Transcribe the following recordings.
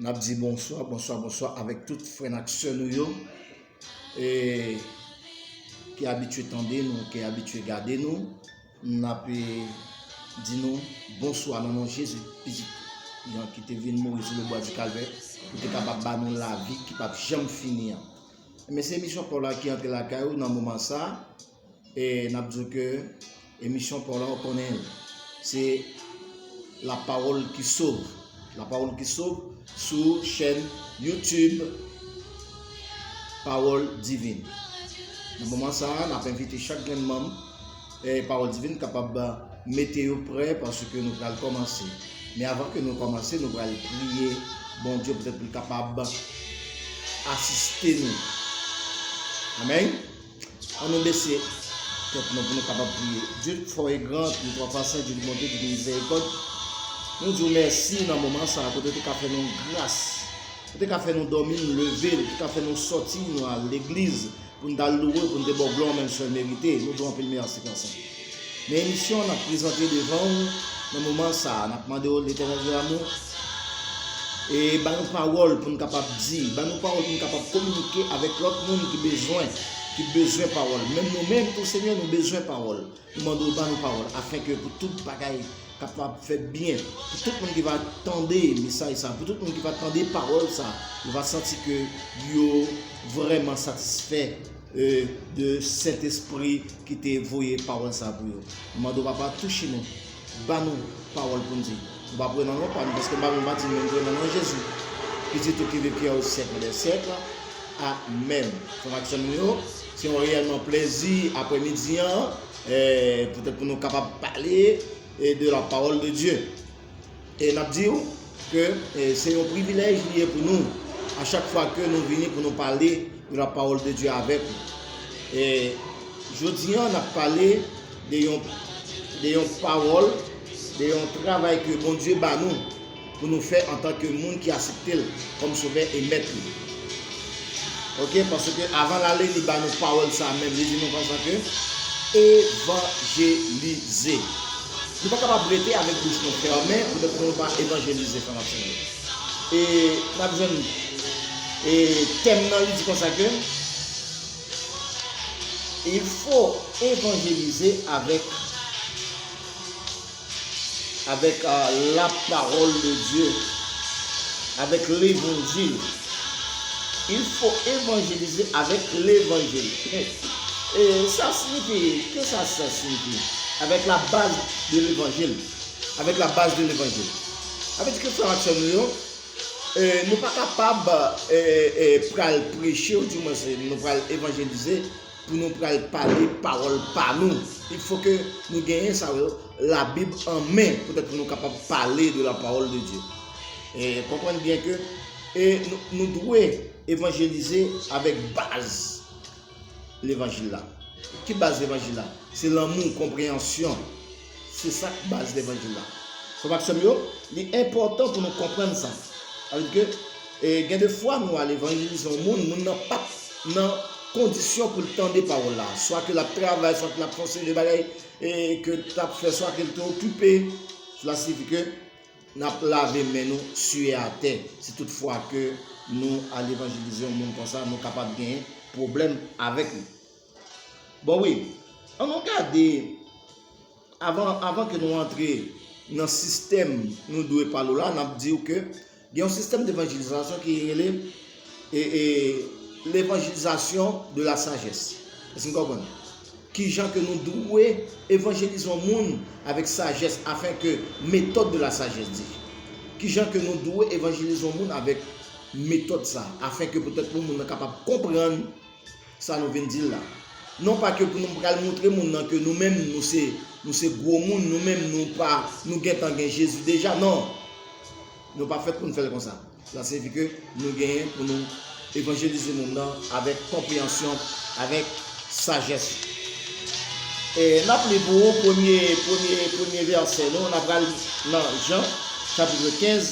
N ap di bonswa, bonswa, bonswa avèk tout frè n ak sè nou yo ki abitye tande nou, ki abitye gade nou. N ap di nou bonswa nan non Jezi ki te vin mouri sou lebwa di Kalvè pou te kapab ba nou lavi ki pap janm fini an. Enben, se emisyon pa w la ki antre lakay ou nan moman sa a. E nap diw ke emisyon paw la ou konnen se la pawol ki sov la pawol ki sov sou chèn YouTube pawol divin nan moman sa nap envite chak grenn manm e pawol divin kapab mete yo prè paske nou pral komanse men avan ke nou komanse nou pral priye bon Dieu poutèt li kapab asiste nou amen An nou bese tèt nou pou nou kapab priye. Dye k fò e gran, ki twò pwisan, Dye ki bonte, Dye ki mizèrikòd, nou di w mèsi nan moman sa a kote w te ka fè nou gras, ou te ka fè nou dòmi nou leve, ou te ka fè nou sòti nou al legliz pou n t al louwe w, pou n te ba w glwa w menm sèl merite. Nou di w anpil mèsi, Pè Sen. Men emisyon nap prezante devan ou nan moman sa a, nap mande ou Letènèl de Lamou e ba nou pawòl pou nou kapab di, ba nou pawòl pou nou kapab kominike avèk lòt moun ki bezwen, ki bezwen pawòl, menm nou menm tou Senyè nou bezwen pawòl, nou mande ou ba nou pawòl afin ke pou tout bagay kapab fèt byen, pou tout moun ki va tande mesaj sa, pou tout moun ki va tande pawòl sa, yo va santi ke yo vrèman satisfè de sentespri ki te voye pawòl sa pou yo m mande w papa touche nou ba nou pawòl pou n di m pa pre nan non pa m paske m pa konn pa di men m pre nan non jezi pitit ou ki viv ki au siècle des siècles amen frè m ak sè m yo se yon reyèlman plezi aprè midi an pou tèt pou nou kapab pale de la pawòl de Dieu. E n ap di w ke se yon privilèj li ye pou nou a chak fwa ke nou vini pou nou pale de la pawòl de Dye avèk ou. E jodi an n ap pale de yon de yon pawòl, de yon travay ke Bondye ba nou pou nou fè antanke moun ki asepte l kòm Sovè e Mèt li. Ok paske avan lale li ba nou pawòl sa menm li di nou konsa ke evanjelize nou pa kapab rete avèk bouch nou fèmen pou tèt nou pa evanjelize frè m ak sè m yo e nap jwenn e tèm nan li di konsa ke il fo evanjelize avèk avèk la parole de Dieu, avèk levanjil, il faut évangéliser avec levanjil, sa signifi, ke sa sa signifi, avèk la baz de levanjil, avèk la baz de levanjil, sa vle di ke frè m ak sè m yo, nou pa kapab pral preche ou di mwen se nou pral évangéliser. pou nou pral pale pawòl pa nou. Il fò ke nou genyen sa yo, la bib an men, pou tèt pou nou kapab pale de la pawòl de Dye. E konprann byen ke e nou dwe evanjelize avèk baz levanjil la. Ki baz levanjil la? Se lanmou, konpreyansyon. Se sa k baz levanjil la. Frè m ak sè m yo, li enpòtan pou nou konprann sa. Sa vle di ke gen de fwa nou al evanjelize yon moun, moun nan pap nan kondisyon pou l tande pawòl la. Swa ke l ap travay, swa ke l ap fè yon seri de bagay ke l t ap fè, swa ke l te okipe. Sela siyifi ke n ap lave men nou, siye atè, si tout fwa ke nou al evanjelize yon moun konsa, nou kapab gen pwoblèm avèk li. Bon wi, an nou gade avan ke nou antre nan sistèm nou dwe pale w la, n ap di w ke gen yon sistèm devanjilizasyon ki rele levanjilizasyon de la sajès. Èske nou konprann? Ki jan ke nou dwe evanjelize yon moun avèk sajès afen ke metòd de la sajès di. Ki jan ke nou dwe evanjelize yon moun avèk metòd sa afen ke petèt moun nan kapab konprann Sa nou vin di la. Non pa ke pou nou pral moutre moun nan ke nou menm nou se nou se gwo moun, nou menm nou pa nou gentan gen Jezi deja. Non! Nou pa fèt pou nou fè l konsa. Sa siyifi ke nou genyen pou nou evanjelize moun nan avèk konpreyansyon, avèk sajès. E n ap li pou ou premye, premye, premye vèsè nou. N a pral nan Jan, chapitre 15,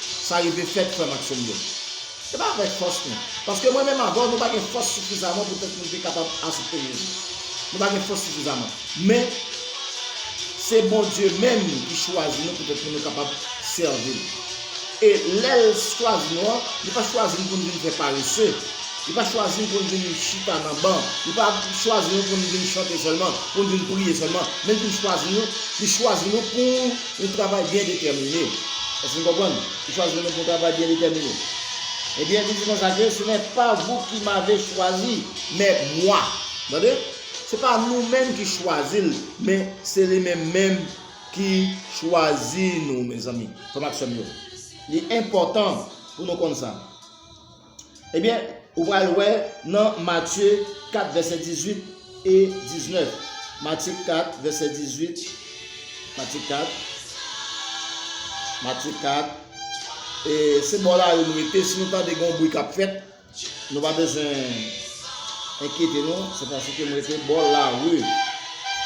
Sa rive fèt frèm ak sèm yo. Se pa avèk fòs nou. Paske mwen menm avèw nou pa gen fòs sifizaman poutèt nou te kapab asepte Jezi. Nou pa gen fòs sifizaman. Men Se Bondye menm ki chwazi nou poutèt pou nou kapab sèvi l. E lèl chwazi nou an, li pa chwazi n pou n vin fè parese. Li pa chwazi n pou n vin chita nan ban. Li pa chwazi nou pou n vin chante sèlman, pou n vin priye sèlman. Men li vin chwazi nou, li chwazi nou pou. Yon travay byen detèmine. Èske n konprann? Li chwazi nou menm pou yon travay byen detèmine. Ebyen, li di konsa ke, Se nè pa vou ki mave chwazi, mè mwa. Tande? Se pa nou menm ki chwazi l, men se li menm menm ki chwazi nou, mezanmi, frè m ak sè m yo. Li enpòtan pou nou konn sa. Ebyen, ou pral wè nan Matye 4 vèsè 18 e 19. Matye 4 vèsè 18, Matye 4, Matye 4, e se bò lari nou rete, si nou tande gen yon bri k ap fèt, nou pa bezwen enkyete nou, se paske nou rete bò lari.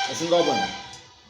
Èske nou konprann?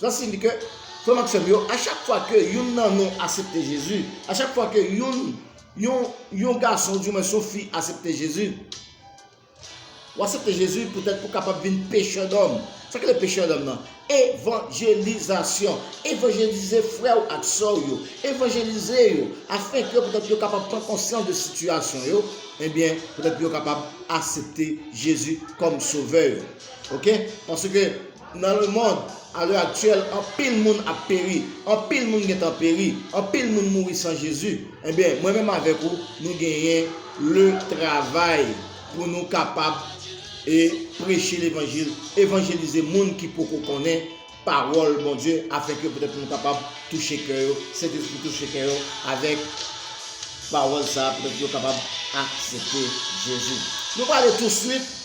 Sa siyifi ke, frè m ak sè m yo, a chak fwa ke youn nan nou asepte Jezi, a chak fwa ke youn, yon, yon gason oudyouwens yon fi asepte Jezi, ou asepte Jezi poutèt pou w kapab vin pechè dòm. Sa ki rele pechè dòm nan? Evanjelizasyon. Evanjelize frè ou ak sè ou yo. Evanjelize yo afenke poutèt yo kapab pran konsyans de sitiyasyon yo, ebyen, poutèt pou yo kapab asepte Jezi kòm Sovè yo. Ok? Paske. Nan lemond, ale aktyèl, anpil moun ap peri, anpil moun gentan peri, anpil moun mouri san Jezi. Enben, mwen menm avèk ou, nou genyen le travay pou nou kapab e preche levanjil, evanjelize moun ki poko konnen pawòl Bondye afenke petèt nou kapab touche kè yo, Sentespri touche kè yo avèk pawòl sa a, petèt yo kapab aksepte Jezi. Nou prale touswit.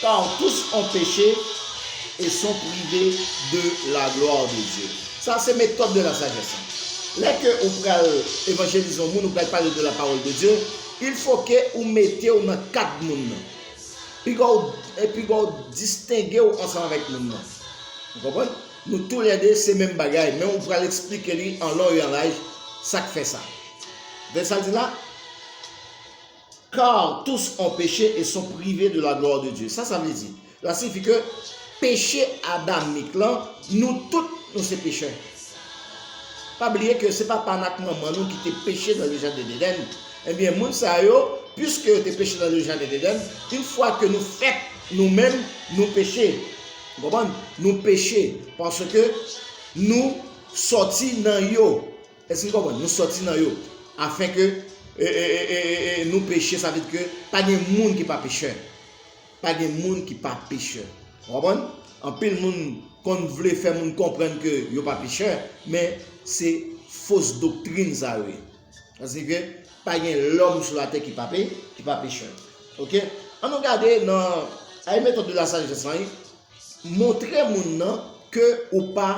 Car tous ont péché et sont privés de la gloire de Dieu. Sa se metòd de la sajès lan. Lè ke ou pral evanjelize yon moun, ou pral pale de la parole de Dieu, il faut ke ou mete ou nan kad moun nan. Piga ou, piga ou distenge ou ansanm avèk moun nan. Ou konprann? Nou tou lè 2 se menm bagay, men ou pral esplike li an lon e an laj sak fè sa. Gade sa l di la? Car tous ont péché et sont privés de la gloire de Dieu. Sa sa vle di? Sa siyifi ke peche adamik lan, nou tout nou se pechè. Pa bliye ke se papa n ak manman nou ki te peche nan le jaden Dedèn. Ebyen moun sa yo, piske yo te peche nan le jaden Dedèn, in fwa ke nou fèt, nou menm nou peche. Ou konprann? Nou peche paske nou sòti nan yo. Èske nou konprann? Nou sòti nan yo, afin ke nou peche, sa vle di ke pa gen moun ki pa pechè. Pa gen moun ki pa pechè. Ou konprann? Anpil moun konn vle fè moun konprann ke yo pa pechè, men se fos doktrin sa yo ye. Sa signifie ke pa gen lòm sou latè ki pa pechè. Ok? An nou gade nan, a une méthode de la sagesse lan, Montre moun nan ke ou pa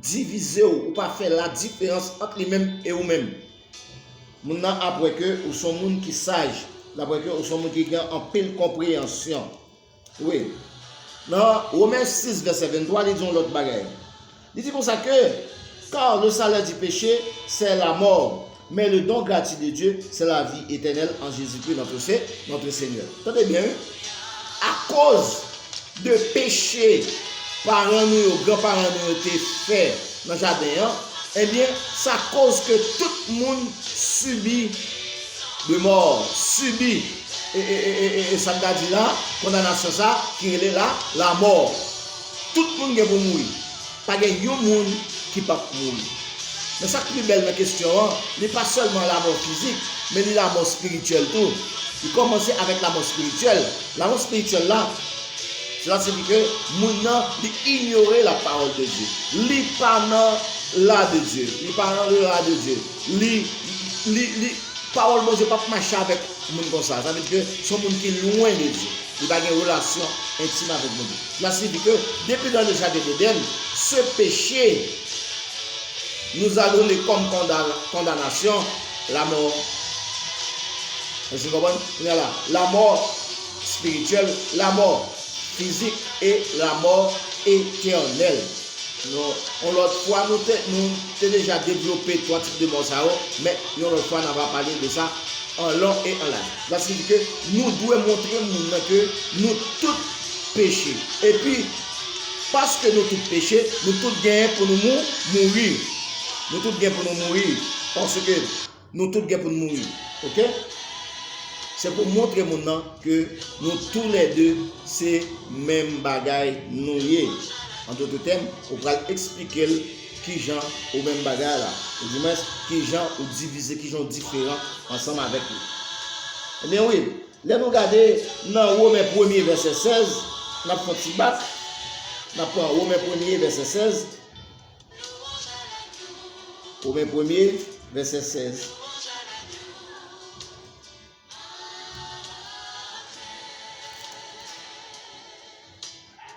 divize ou, ou pa fè ladiferans ant li menm e ou menm. Moun nan ap wè ke ou son moun ki saj, l ap wè ke ou son moun ki gen anpil konpreyansyon. Wi. Nan Women 6 vèsè 23 li di yon lòt bagay. Li di konsa ke, Car le salaire du péché, c'est la mort, mais le don gratuit de Dieu, c'est la vie éternelle en Jésus-Christ notre Seigneur. Tande byen wi. Akoz de peche paran nou yo, gran paran nou yo te fè nan jaden an, ebyen sa koz ke tout moun sibi de mò, sibi e sa n ta di la kondanasyon sa ki rele la la mò. Tout moun gen pou mouri. Pa gen yon moun ki p ap mouri. Men sa k pi bèl nan kesyon an, li pa sèlman lamò fizik, men li lamò espirityèl tou. Li kòmanse avèk lamò espirityèl. Lamò espirityèl la, sela sifi ke moun nan li inyore lapawòl de Dye. Li pa nan la de Dye. Li pa nan le la de Dye. Li, li, li, pawòl Bondye p ap mache avèk moun konsa. Sa vle di ke se yon moun ki lwen de Dye. Li pa gen relasyon entim avèk Bondye. Mas li di ke depi nan le jaden Deden, se peche nous a donne comme condamnation la mort. Èske nou konprann? Kounye a la, la mort spirituelle, la mort physique et la mort éternelle. Nou, yon lòt fwa nou te, nou te deja devlope 3 tip de mò sa yo, men yon lòt fwa nan va pale de sa an long et en large. Sa siyifi ke nou dwe montre moun nan ke nou tout peche. Epi, paske nou tout peche, nou tout gen pou nou mouri. Nou tout gen pou nou mouri. Paske nou tout gen pou nou mouri. Ok? Se pou montre moun nan ke nou tou lè de se menm bagay nou ye. An dote tèm, ou pral eksplike l. Kijan ou menm bagay la? Ou di mwens, kijan ou divize, kijan ou diferan ansanm avèk li? Ebyen wi, lè nou gade nan Women premye vèsè 16, n ap fon ti bak, n ap pran Women premye vèsè 16, Women premye vèsè 16.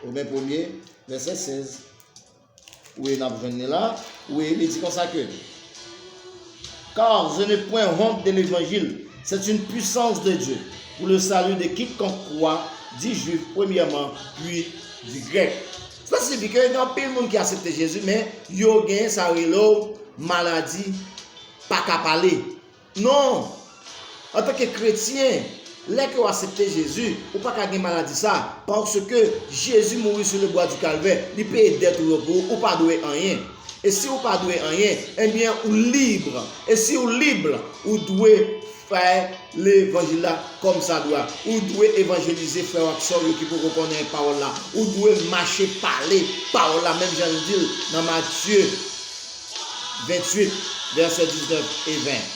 Women premye vèsè 16. Wi, n ap jwenn li la. Wi, li di konsa ke, Car je n'ai point honte de l'Evangile, c'est une puissance de Dieu pour le salut de quiconque croit, du Juif premièrement, puis du Grec. Sa siyifi ke gen anpil moun ki asepte Jezi men yo gen sa yo rele yo maladi pa ka pale. Non! Antanke kretyen, lè ke w asepte Jezi, ou pa ka gen maladi sa, paske Jezi mouri sou le bwa di kalvè, li peye dèt ou yo pou ou, ou pa dwe anyen. E si ou pa dwe anyen, enbyen ou lib, e si ou lib, ou dwe fè levanjil la kòmsadwa, ou dwe evanjelize frè w ak sè w yo ki poko konnen pawòl la, ou dwe mache pale pawòl la menm jan li di l nan Matye. 28, vèsè 19 e 20,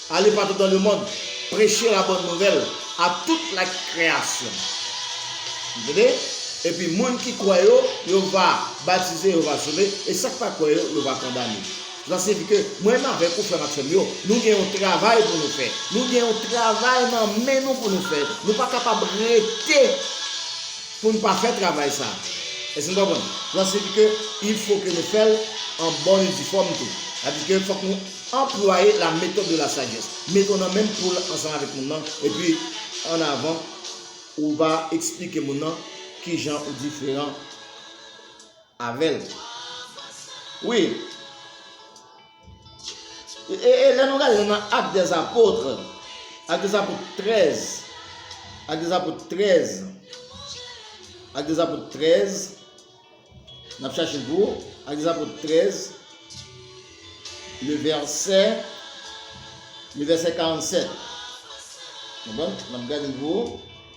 Ale patou dan lemond, preche labòn nouvèl a tout lakreyasyon. Nou tande? Epi moun ki kwè yo, yo va batize, yo va sove, e sa k pa kwè yo, yo va kondane. Sa siyifi ke mwen menm avèk ou, frè m ak sè m yo, nou gen yon travay pou nou fè. Nou gen yon travay nan men nou pou nou fè. Nou pa kapab rete. Pou n pa fè travay sa a. Èske nou konprann? Sa siyifi ke il fo ke nou fè l an bòn e difòm tou. Sa vle di ke fòk nou anplwaye la méthode de la sagesse. Mete w nan menm poul ansanm avèk moun nan, epi an avan ou va eksplike moun nan kijan ou diferan avè l. Wi. E lè nou gade nan Actes des Apôtres, Actes des Apôtres 13, Actes des Apôtres 13, Actes des Apôtres 13, n ap chache pou Actes des Apôtres 13, le verset, le verset 47. Bon, n ap gade pou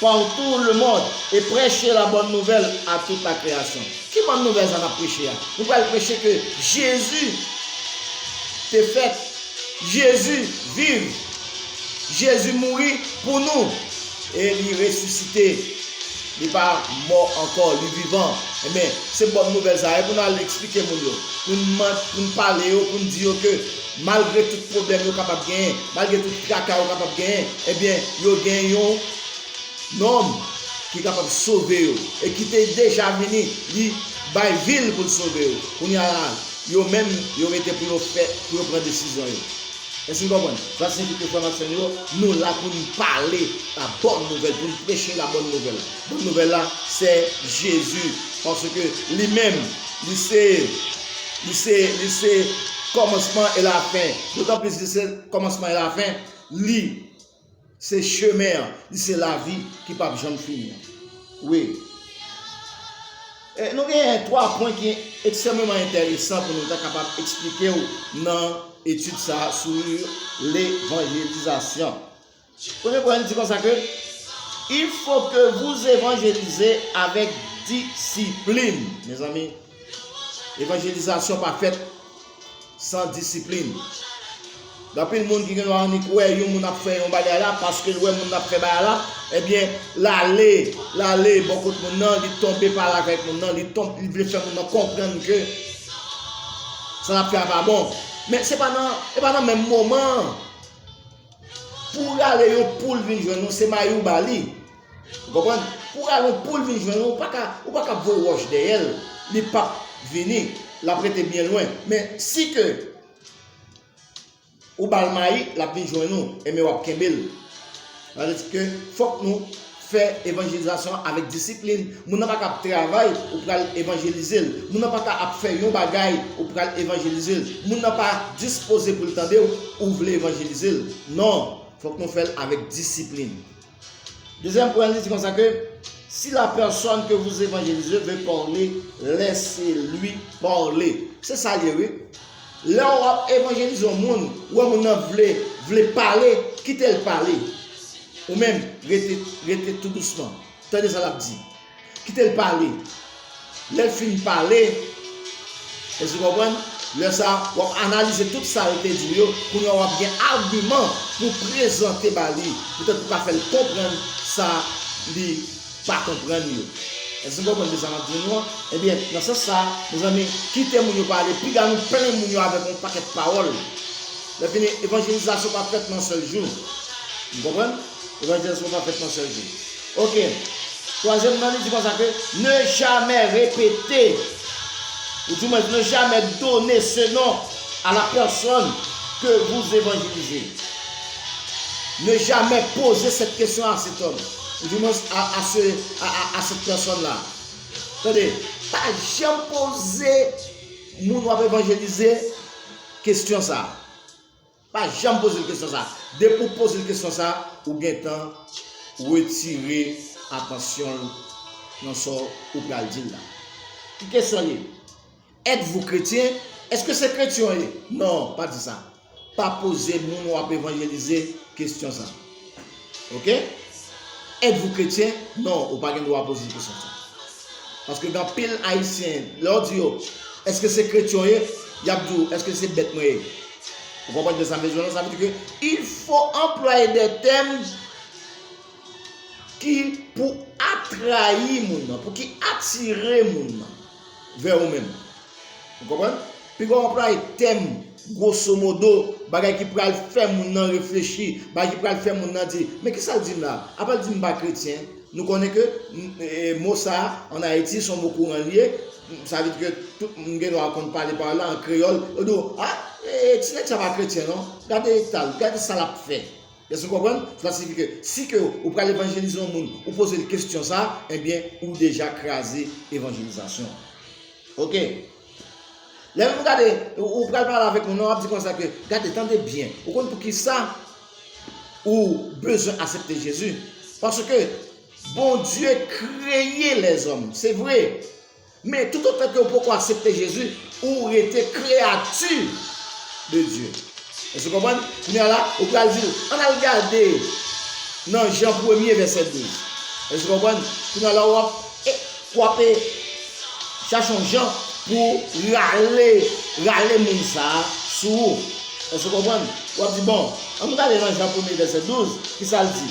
Partout le monde, e prèche la bòn nouvèl a tout la kreyasyon. Ki bòn nouvèl sa nap preche a? Nou pral preche ke Jezi te fèt, Jezi viv, Jezi mouri pou nou e li resisite, li pa mò ankò, li vivan. Enben, se bòn nouvèl sa a pou nou al eksplike moun yo, pou nou pale yo, pou nou di yo ke Malgre tout pwoblèm yo kapab genyen, malgre tout traka yo kapab genyen, ebyen, yo gen yon Nonm ki kapab sove yo e ki te deja vini, li bay vi l pou l sove yo. Kounye a, yo menm, yo rete pou yo fè, pou yo pran desizyon yo. Èske n konprann? Sa siyifi ke, frè m ak sè m yo, nou la pou n pale labòn nouvèl, pou n preche labòn nouvèl. Bòn nouvèl la se Jezi, paske li menm, li se. Li se, li se kòmansman e lafen. Dotan plis li se kòmansman e lafen, li se chemen an, li se lavi ki p'ap janm fini an. Wi. E nou genyen 3 pwen ki ekstrèmeman enteresan pou nou ta kapab eksplike ou nan etid sa a sou levanjelizasyon. Premye pwen li di konsa ke, Il faut que vous évangélisez avec discipline. Mezanmi, evanjelizasyon pa fèt san disiplin. Ganpil moun ki gen dwa annik wè yon moun ap fè yon bagay la, paske l wè moun nan ap fè bagay la, ebyen l ale, l ale bò kot moun nan, li tonbe pale avèk moun nan, li vle fè moun nan konprann ke sa l ap fè a pa bon. Men se pa nan, e pa nan menm moman an. Pou w rale yon poul vin jwenn ou, se mayi ou ba li. Ou konprann? Pou w rale yon poul vin jwenn ou, ou pa ka, ou pa ka ap voye wòch dèyè l, li p ap vini, l ap rete byen lwen. Men, si ke ou ba l mayi, l ap vin jwenn ou, enben w ap kenbe l. Sa vle di ke fòk nou. Fè evanjelizasyon avèk disiplin. Moun nan pa ka ap travay, ou pral evanjelize l. Moun nan pa ka ap fè yon bagay, ou pral evanjelize l. Moun nan pa dispoze pou l tande w, ou vle evanjelize l. Non, fòk nou fè l avèk disiplin. Dezyèm pwen li di konsa ke, Si la pèsòn ke vous evanjelize veut parler, laissez-lui parler. Se sa l ye wi. Lè w ap evanjelize yon moun, ou wè moun nan vle vle pale, kite l pale. Ou menm, rete rete tou dousman. Tande sa l ap di. Kite l pale. Lè l fin pale, èske w konprann, lè sa a, w ap analize tout sa yo te di w yo, kounye a w ap gen agiman pou w prezante ba li poutèt pou w ka fè l konprann sa li pa konprann yo. Èske nou konprann mesaj m ap di nou an? Ebyen, nan sans sa a, mezanmi, kite moun yo pale, piga nou plen moun yo avèk yon pakèt pawòl. Lèfini, evanjelizasyon pa fèt nan yon sèl jou. Nou konprann? Evanjelizasyon pa fèt nan yon sèl jou. Oke. Twazyèm nan, li di konsa ke, Ne jamè repete, ou di mwen, ne jamè done se non a la pèsòn ke vou evanjelize. Ne jamè poze sèt kesyon a sèt òm. Du moins a a cette personne la. Tande, pa janm poze moun wap evanjelize kesyon sa. Pa janm poze l kesyon sa. Depi w poze l kesyon sa, ou gentan retire atansyon l nan sa w pral di l la. Ki kesyon l ye? Etes-vous chrétien? Eske se kretyen w ye? Non, pa di sa. Pa poze moun w ap evanjelize kesyon sa a. Ok? Etes-vous chrétien? Non, ou pa gen dwa poze kesyon sa a. Paske gen anpil Ayisyen, lè w di yo, Eske se kretyen w ye? Y ap di w, Eske se bèt mwen ye? Ou konprann ke sa vle di la? Sa vle di ke il fo anplwaye dè tèm ki pou atrayi moun nan, pou ki atire moun nan. Vè ou menm. Ou konprann? Pi gwo anplwaye tèm gwoso modo, bagay ki pral fè moun nan reflechi, bagay ki pral fè moun nan di, men ki sa l di m la a? Apa l di m pa kretyen? Nou konnen ke mo sa a ann Ayiti se yon mo kouran li ye, sa vle di ke tout moun gen dwa konn pale pawòl la an kreyòl, yo di w, a, ti nèg sa a pa kretyen non, gade eta l, gade sa l ap fè. Èske nou konprann? Sa siyifi ke si ke ou pral evanjelize yon moun, ou poze l kestyon sa a, enbyen ou deja kraze evanjelizasyon an. Ok. Lè nou gade, ou pral pale avèk moun nan, w ap di konsa ke, gade, tande byen, ou konn poukisa ou bezwen asepte Jezi? Paske Bondye kreye lèzòm, se vre, Men, toutotan ke ou poko asepte Jezi, ou rete kreyati de Dye. Èske ou konprann? Kounye a la, ou pral di l, ann al gade nan Jan premye vèsè 12. Èske ou konprann? Kounye a la, w ap, w ap e, chache yon jan pou w rale, rale moun sa a sou ou. Èske ou konprann? W ap di, bon, ann gade nan Jan premye vèsè 12, kisa l di?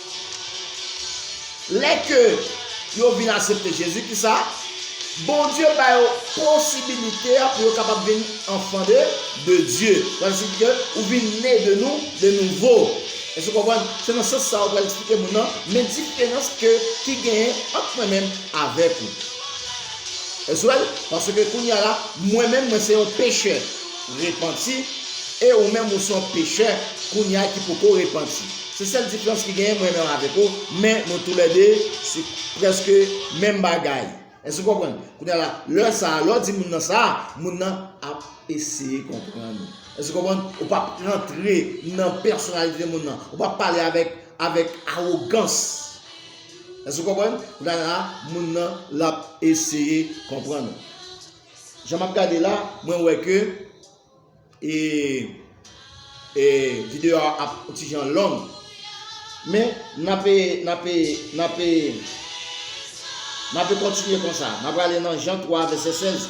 Lè ke yo vin asepte Jezi, ki sa? Bondye ba yo posibilite a pou yo kapab vin anfan de de Dye. Sa vle di ke ou vin ne de nou, de nouvo. Èske ou konprann? Se nan sans sa ou pral eksplike moun nan, men diferans ke ki genyen ant mwen menm avèk ou. Èske ou wè l? Paske kounye a la, mwen menm mwen se yon pechè repanti, e ou menm ou se yon pechè kounye a ki poko repanti. Se sèl diferans ki genyen mwen nan avèk ou men nou tou lè 2 se prèske menm bagay èske ou konprann kounya la lè sa lè ou di moun nan sa moun nan ap eseye konprann ou èske ou konprann ou pap rantre nan pèsonalite moun nan ou pap pale avèk avèk awogans èske ou konprann kounya la moun nan lap eseye konprann ou jan map gade la mwen wè ke. E E video a ap yon ti jan long men nape nape nape nape kontinye konsa na prale nan Jan 3 vèsè 16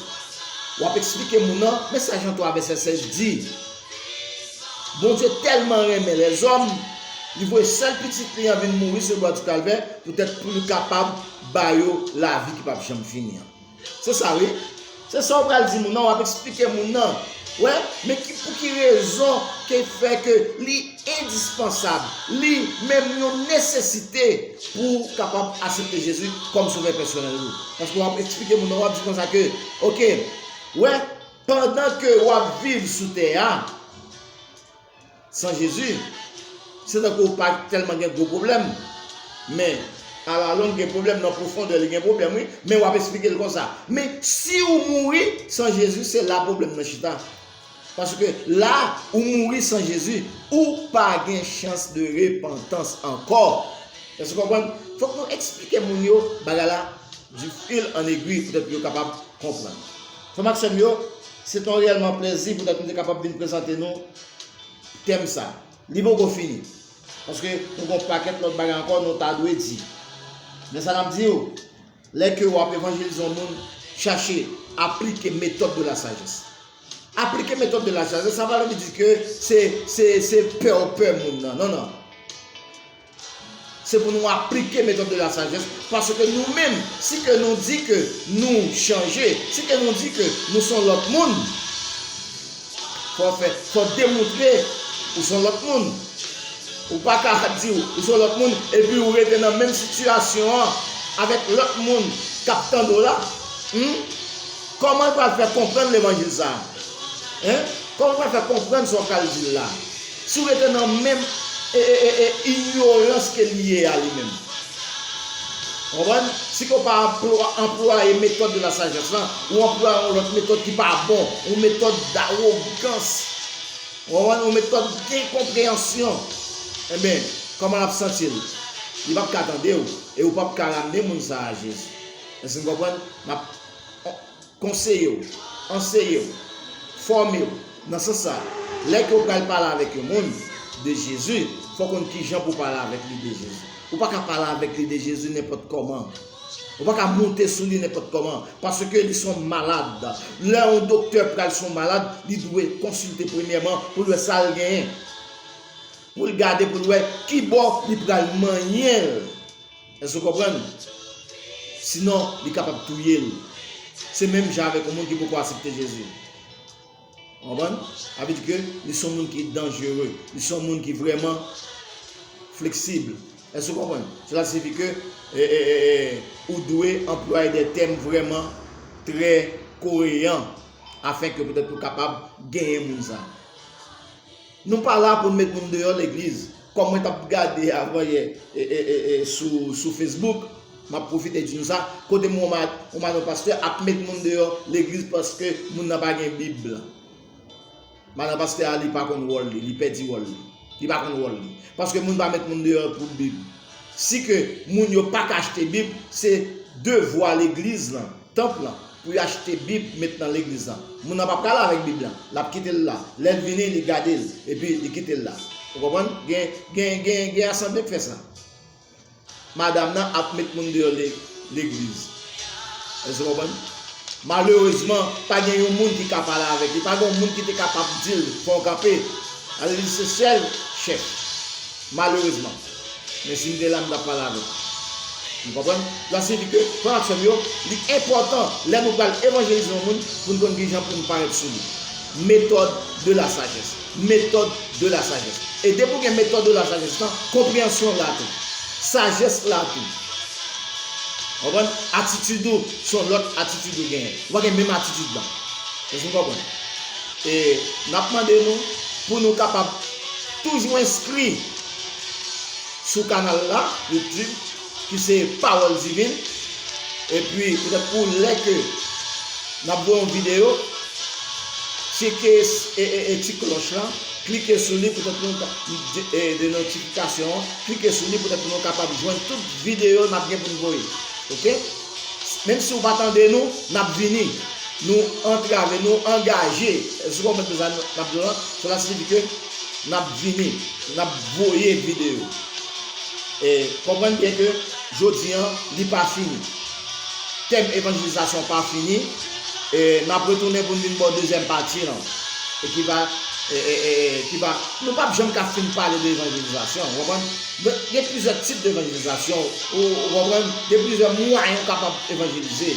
wap esplike moun nan men sa Jan 3 vèsè 16 di Bondye tèlman renmen lèzòm li voye sèl pitit li an vin mouri sou bwa di kalvè poutèt poul kapab bayo lavi ki pap janm fini an. Se sa wi. Se sa ou pral di moun nan, wap esplike moun nan. Wè, men ki pou ki rezon ke fè ke li endispansab, li menm yon nesesite pou ou kapab asepte Jezi kòm sovè pèsonèl ou. Paske wap esplike moun nan, wap di konsa ke, ok, wè, pandan ke wap viv sou tè a, San Jezi, se tankou ou pa tèlman gen gwo pwoblèm, men alalong gen pwoblèm, nan pwofondè li gen pwoblèm wi, men wap esplike l konsa. Men si ou mouri san Jezi se la pwoblèm nan chita. Paske la ou mouri san Jezi, ou pa gen chans de repantans ankò. Èske ou konprann? Fòk nou esplike moun yo bagay la di fil an egwi poutèt yo kapab konprann. Frè m ak sè m yo, se t on reyèlman plezi poutèt m te kapab vin prezante nou tèm sa. Li poko fini, paske nou gen on pakèt lòt bagay ankò nou ta dwe di. Men sa n ap di ou, lè ke ou ap evanjelize on moun, chache aplike metòd de la sajès. Aplike metòd de la sajès, sa pa vle di ke se pè ou pè moun nan, non, non. Se pou nou aplike metòd de la sajès, paske nou menm, si ke nou di ke nou chanje, si ke nou di ke nou son lòt moun, fò fè, fò demontre ou son lòt moun. Ou pa ka di ou, ou son lòt moun, epi ou rete nan menm sitiyasyon an avèk lòt moun k ap tande w la. Hum! Kòman l pral fè konprann levanjil sa a? Hein! Kòman l pral fè konprann sa w pral di l la? Si w rete nan menm inyorans ke li ye a li menm. Ou konprann? Si ke w pa anplwaye metòd de la sajès lan, ou anplwaye yon lòt metòd ki pa bon, yon metòd dawogans, ou konprann, yon metòd enkonpreyansyon, enben, kòman l ap santi l? Li p ap ka tande w e ou p ap ka ramne moun sa a Jezi. Èske n konprann? Konseye w, anseye w, fòme w. Nan sans sa, lè ke w pral pale avèk yon moun de Jezi, fò w konn kijan pou w pale avèk li de Jezi. Ou pa ka pale avèk li de Jezi nenpòt kòman. Ou pa ka moute sou li nenpòt kòman, paske li son malad. Lè yon doktè pral sou yon malad, li dwe konsilte premyèman pou l wè sa l genyen, pou l gade pou l wè kibò li pral manyen l. Èske w konprann? Sinon, li kapab touye l. Se menm jan avèk yon moun ki poko asepte Jezi. Ou konprann? Sa vle di ke li se yon moun ki danjere. Li se yon moun ki vrèman fleksib. Èske w konprann? Sela siyifi ke ou dwe anplwaye de tèm vrèman trè koreyan afenke petèt ou kapab genyen moun sa. Nou pa la poun met moun deyò legliz kòm mwen tap gade avan yè sou Facebook map pwofite di nou sa kote m wè yon pastè ap met moun deyò legliz paske moun nan pa gen bib madan pastè a li pa konn wòl li li pèdi wòl li li pa konn wòl li paske moun pa met moun deyò pou bib si ke moun yo paka achte bib se devwa legliz lan Tanp lan, pou yo achte Bib met nan legliz lan. Moun nan pa pral avèk Bib lan. L ap kite l la. Lè l vini, li gade l, epi li kite l la. Ou konprann? Gen, gen, gen asanble k fè sa. Madam nan ap met moun deyò legliz. Èske w konprann? Malerezman, pa gen yon moun ki ka pale avèk li. Pa gen yon moun ki te kapab di l, Fè w kanpe. Alelouya! Se sèl chèf. Malerezman. Men si m te la m t ap pale avè l. Nou konprann? Sa siyifi ke, frè m ak sè m yo, li enpòtan lè nou pral evanjelize yon moun pou n konn kijan pou n parèt sou li. Méthode de la sagesse. Méthode de la sagesse. E depi ou gen méthode de la sagesse lan, konpreyansyon la tou. Sajès la tou. Konprann? Atitid ou se yon lòt atitid ou genyen. Ou pa gen menm atitid lan. Èske nou konprann? E n ap mande nou pou nou kapab toujou enskri. sou kanal la YouTube ki se Parole Divine e pi petèt pou lè ke nap voye yon video tcheke ti klòch la klike sou li petèt pou de notifikasyon an klike sou li petèt pou nou kapab jwenn tout video nap gen pou nou voye ok menm si ou pa tande nou nap vini nou antrave nou angaje esou konprann sa nap di la sela siyifi ke Nap vini nap voye video. E konprann byen ke jodi an li pa fini. Tèm evanjelizasyon pa fini. E nap retounen pou n vin ba w dezyèm pati lan. E ki va e ki va nou pap janm ka fin pale de evanjelizasyon ou konprann. Gen plizyè tip de evanjelizasyon ou konprann. Gen plizyè mwayen ou kapab evanjelize.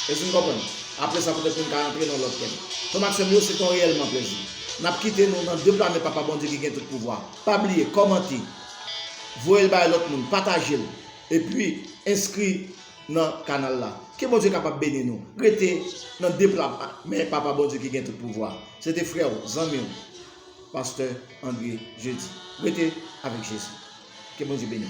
Èske nou konprann? Apre sa petèt nou ka rantre nan lòt tèm. Frè m ak sè m yo se te yon reyèlman plezi. Nap kite nou nan de pla men papa Bondye ki gen tout pouvwa pa bliye kòmante voyel bay lòt moun patajel epi enskri nan kanal la ke Bondye kapab beni nou rete nan de pla men papa Bondye ki gen tout pouvwa se te frèw zanmiw pastè André Jeudy rete avèk Jezi ke Bondye beniw.